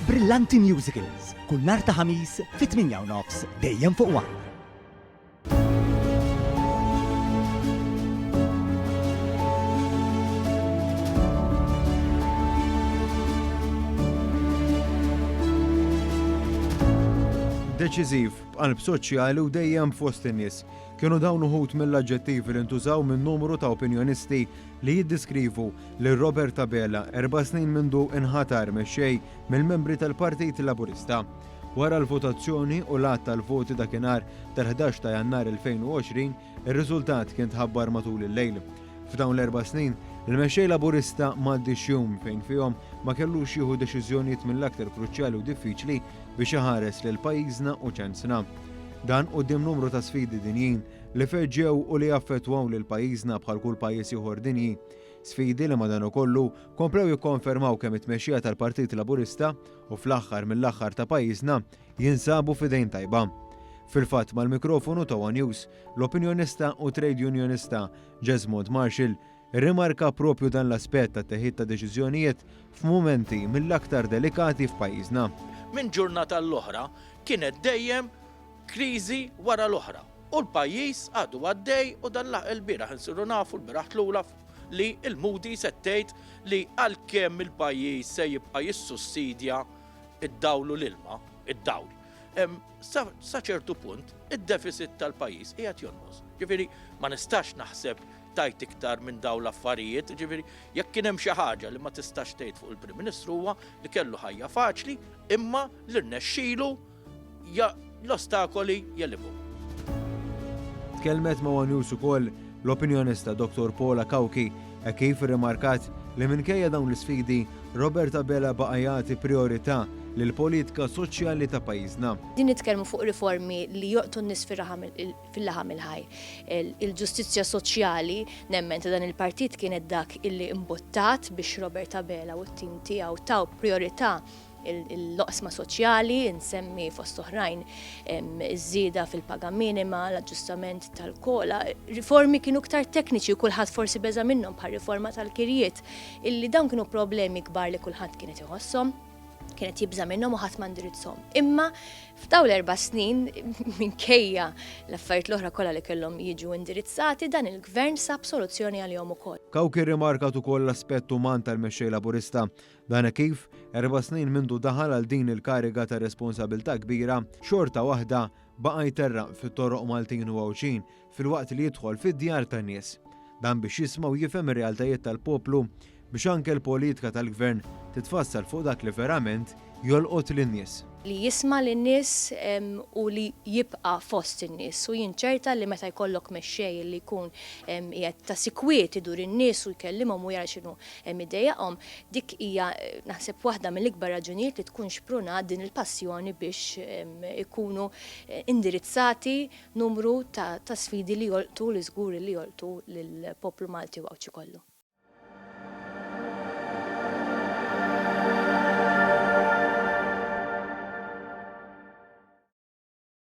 Brillanti Musicals, kull nhar ta' Ħamis fit-tmienja u nofs, dejjem fuq one. Deċiżiv, b'qalb soċjali u dejjem fost in-nies. Kienu dawn uħud mill-aġġettivi li ntużaw minn numru ta' opinjonisti li jiddiskrivu lil Robert Abela erba' snin mindu nħatar mexxej mill-membri tal-Partit Laburista. Wara l-votazzjoni u l-għadd tal-voti dakinhar tal-ħdax ta' Jannar 2020, ir-riżultat kien tħabbar matul il-lejl. F'dawn l-erba' snin, il-mexxej Laburista m'għaddiex jum fejn fihom ma kellux jieħu deċiżjonijiet mill-aktar kruċjali u diffiċli biex iħares lil pajjiżna u ċansna. Dan quddiem numru ta' sfidi dinjin li feġġew u li affettwaw lil pajjiżna bħal kull pajjiż ieħor dinji. Sfidi li madanakollu komplew jikkonfermaw kemm it-tmexxija tal-Partit Laburista u fl-aħħar mill-aħħar ta' pajjiżna jinsabu f'idejn tajba. Fil-fatt mal-mikrofonu ta' one News, l-opinjonista u trade unionista Jesmond Marshall irrimarka proprju dan l-aspett tat-teħid ta' deċiżjonijiet f'mumenti mill-aktar delikati f'pajjiżna. Minn ġurnata għall-oħra kienet dejjem Kriżi wara l-oħra u l-pajjiż għadu għaddej u dan il-bieraħ insiru nafu l-bieraħ tlula li l-Moody's qed tgħid li għalkemm il-pajjiż se jibqa' jissussidja d-dawl u l-ilma, id-dawl, sa ċertu punt id-defiċit tal-pajjiż qiegħed jonqos. Ġifieri ma nistax naħseb tajt iktar minn dawn l-affarijiet, ġifieri jekk kien hemm xi ħaġa li ma tistax tgħid fuq il-Prim Ministru huwa li kellu ħajja faċli imma li rnexxielu Ja l-ostakoli jelibu. Tkellmet ma' one News ukoll l-opinjonista Dottor Paula Cauchi hekk kif irrimarkat li minkejja dawn l-isfidi, Robert Abela baqa' jagħti prijorità lill-politika soċjali ta' pajjiżna. Din nitkellmu fuq riformi li joqtgħu n-nies fil-laħam il-ħaj. Il-ġustizzja soċjali, nemmen ta' dan il-partit kienet dak illi mbuttat biex Robert Abela u t-tim tiegħu taw prijorità l-oqsma soċjali, insemmi fost oħrajn iż-żieda fil-paga minima, l-aġġustament tal-kola, riformi kienu ktar tekniċi u kulħadd forsi beża' minnhom bħal riforma tal-kirjiet, illi dawn kienu problemi kbar li kulħadd kienet iħossom kienet jibża minnhom u ħadd mandirizzhom. Imma f'daw l-erba' snin minkejja l-affarijiet l-oħra kollha li kellhom jiġu indirizzati dan il-gvern sab soluzzjoni għalihom ukoll. Kawk irrimarkat ukoll l-aspett uman tal-Mexxej Laburista Dan hekk kif, erba' snin mindu daħal għal din il-kariga ta' responsabilità kbira, xorta waħda baqa' jterraq fit-toroq Maltin u Għawdxin filwaqt li jidħol fid-djar tan-nies. Dan biex jisma' u jifhem ir-realtajiet tal-poplu biex anke l-politika tal-Gvern titfassal fuq dak li verament jolqot lin-nies. Li jisma' lin-nies u li jibqa' fost in-nies u jinċerta li meta jkollok mexxej li jkun qiegħed ta' sikwit idur in-nies u jkellimhom u jara x'inhu Hemm iddejjaqhom, dik hija naħseb waħda mill-ikbar raġunijiet li tkun xprunat din il-passjoni biex ikunu indirizzati numru ta' sfidi li jolqtu li żgur li jolqtu lill-poplu Malti u Għawdxi kollu.